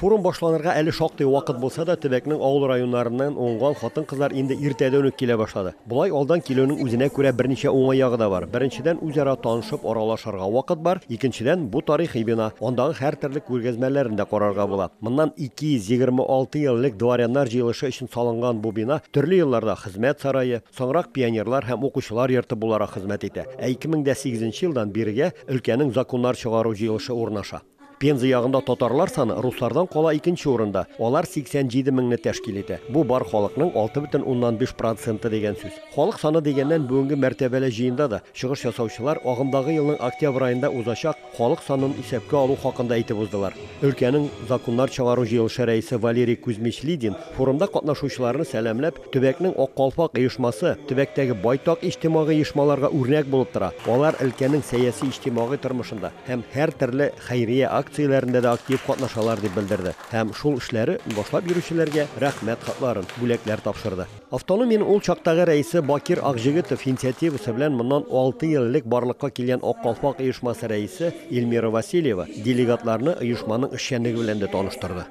Форум башланырга әле шактый вакыт булса да, төбәкнең авыл районнарыннан уңган хатын-кызлар инде иртәдән үк килә башлады. Болай алдан килүнең үзенә күрә берничә уңай ягы да бар. Беренчедән, үзара танышып, аралашырга вакыт бар. Икенчедән, бу тарихи бина, андагы һәртөрле күргәзмәләрен дә карарга була. Моннан 226 ел элек дворяннар җыелышы өчен салынган бу бина төрле елларда Хезмәт сарае, соңрак пионерлар һәм укучылар йорты буларак хезмәт итә. Ә 2008 елдан бирегә өлкәнең законнар чыгару җыелышы урнаша. Пенза ягында татарлар саны руслардан кала икенче урында, алар 87 меңне тәшкил итә. Бу бар халыкның 6,5 проценты дигән сүз. Халык саны дигәннән, бүгенге мәртәбәле җыенда да чыгыш ясаучылар агымдагы елның октябрь аенда узачак халык санын исәпкә алу хакында әйтеп уздылар. Өлкәнең законнар чыгару җыелышы рәисе Валерий Кузьмич Лидин форумда катнашучыларны сәламләп, Төбәкнең Ак калфак оешмасы төбәктәге байтак иҗтимагый оешмаларга үрнәк булып тора. Алар өлкәнең сәяси-иҗтимагый тормышында һәм һәртөрле хәйрия акцияләрендә дә актив катнашалар, дип белдерде һәм шул эшләре башлап йөрүчеләргә Рәхмәт хатларын, бүләкләр тапшырды. Автономиянең ул чактагы рәисе Бакир Акҗегетов инициативасы белән моннан алты ел элек барлыкка килгән Ак калфак оешмасы рәисе Эльмира Васильева делегатларны оешманың эшчәнлеге белән дә таныштырды.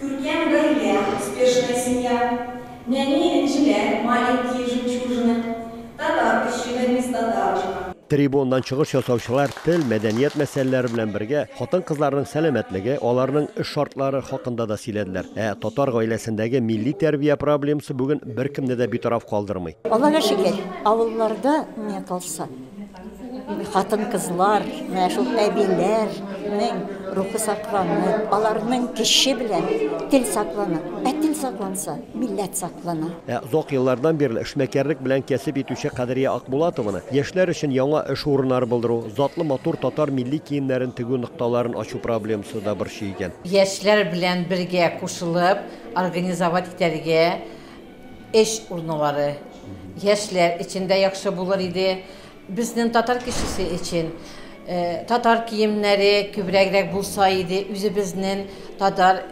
Күркәм гаилә, успешная семья, нәни энҗеләр, маленькие жемчужины, татар өчен бер место даочка. Трибунадан чыгыш ясаучылар тел, мәдәният мәсьәләләре белән бергә, хатын-кызларның сәламәтлеге, аларның эш шартлары хакында да сөйләделәр. Ә татар гаиләсендәге милли тәрбия проблемасы бүген беркемне дә битараф калдырмый. Аллага шөкер, авылларда миңа калса. Хатын-кызлар, менә шул әбиләрнең рухы сакланып, аларның көче белән тел саклана. Ә тел сакланса, милләт саклана. Ә озак еллардан бирле эшмәкәрлек белән кәсеп итүче Кадрия Акбулатованы яшьләр өчен яңа эш урыннары булдыру, затлы матур татар милли киемнәрен тегү нокталарын ачу проблемасы да борчый икән. Яшьләр белән бергә кушылып организовать итәргә Эш урыннары яшьләр өчен дә яхшы булыр иде. Безнең татар кешесе өчен э, татар киемнәре күбрәгрәк булса иде, үзебезнең татар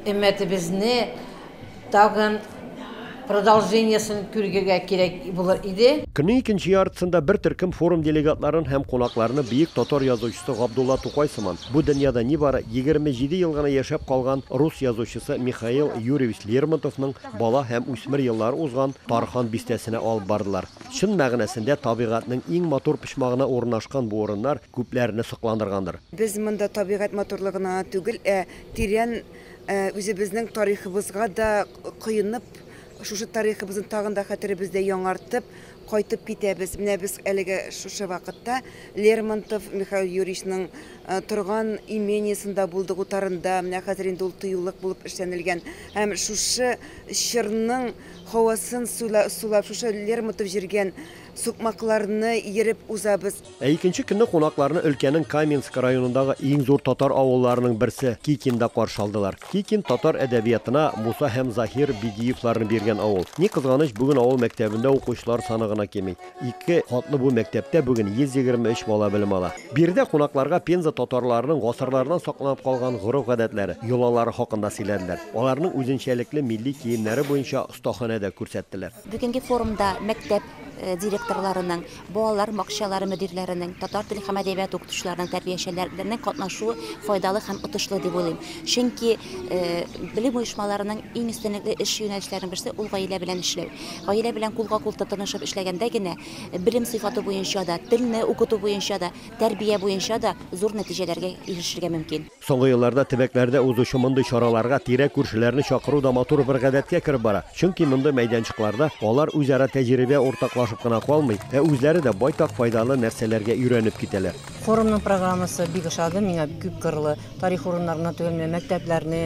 өммәтебезне тагын продолжениесен күрергә кирәк булыр иде. Көннең икенче яртысында бер төркем форум делегатларын һәм кунакларны бөек татар язучысы Габдулла Тукай сыман, бу дөньяда нибары 27 ел гына яшәп калган рус язучысы Михаил Юрьевич Лермонтовның бала һәм үсмер еллары узган Тархан бистәсенә алып бардылар. Чын мәгънәсендә табигатьнең иң матур почмагына урынашкан бу урыннар күпләрне сокландыргандыр. Без монда табигать матурлыгына гына түгел, ә тирән үзебезнең тарихыбызга да коенып, шушы тарихыбызны тагын да хәтеребездә яңартып, Кайтып китәбез. Менә без әлегә шушы вакытта Лермонтов Михаил Юрьевичның торган имениесында булдык, утарында. Менә хәзер инде ул тыюлык булып эшләнелгән. Һәм шушы чорның һавасын сулап, шушы Лермонтов җиргән сукмакларны ерып узабыз. Ә икенче көнне кунакларны өлкәнең Каменск районындагы иң зур татар авылларының берсе, Кикинда каршы алдылар. Кикин, татар әдәбиятына Муса һәм Заһир Бигиевларны биргән авыл. Ни кызганыч, бүген авыл мәктәбендә укучылар саны гына кими. Ике катлы бу мәктәптә бүген 123 бала белем ала. Биредә кунакларга Пенза татарларының гасырлардан сакланып калган гореф-гадәтләре, йолалары хакында сөйләделәр. Аларның үзенчәлекле милли киемнәре буенча остаханә дә күрсәттеләр. Бүгенге форумда мәктәп директорларының Балалар бакчалары мөдирләренең, татар теле һәм әдәбияты укытучыларының, тәрбиячеләрнең катнашуы файдалы һәм отышлы дип уйлыйм. Чөнки белем оешмаларының иң өстенлекле эш юнәлешләренең берсе ул гаилә белән эшләү. Гаилә белән кулга-кул тотынышып эшләгәндә генә белем сыйфаты буенча да, телне укыту буенча да, тәрбия буенча да зур нәтиҗәләргә ирешергә мөмкин. Соңгы елларда төбәкләрдә узучы мондый чараларга тирә-күршеләрне чакыру да матур бер гадәткә кереп бара. Чөнки мондый мәйданчыкларда алар үзара тәҗрибә уртаклашып кына калмый, ә үзләре дә байтак файдалы нәрсәләргә өйрәнеп китәләр. Форумның программасы бик ошады миңа, күпкырлы тарих урыннарына тегелмә мәктәпләрне,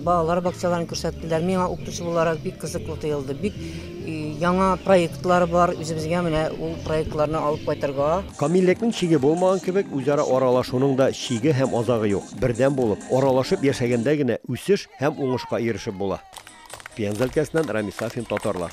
балалар бакчаларын күрсәттеләр. Миңа укытучы буларак бик кызыклы тоелды. Бик Яңа проектлар бар, үзебезгә менә ул проектларны алып кайтырга. Камиллекнең чиге булмаган кебек, үзара аралашуның да чиге һәм азагы юк. Бердәм булып, аралашып яшәгәндә генә үсеш һәм уңышка ирешеп була. Пенза өлкәсеннән Рамис Сафин, Татарлар.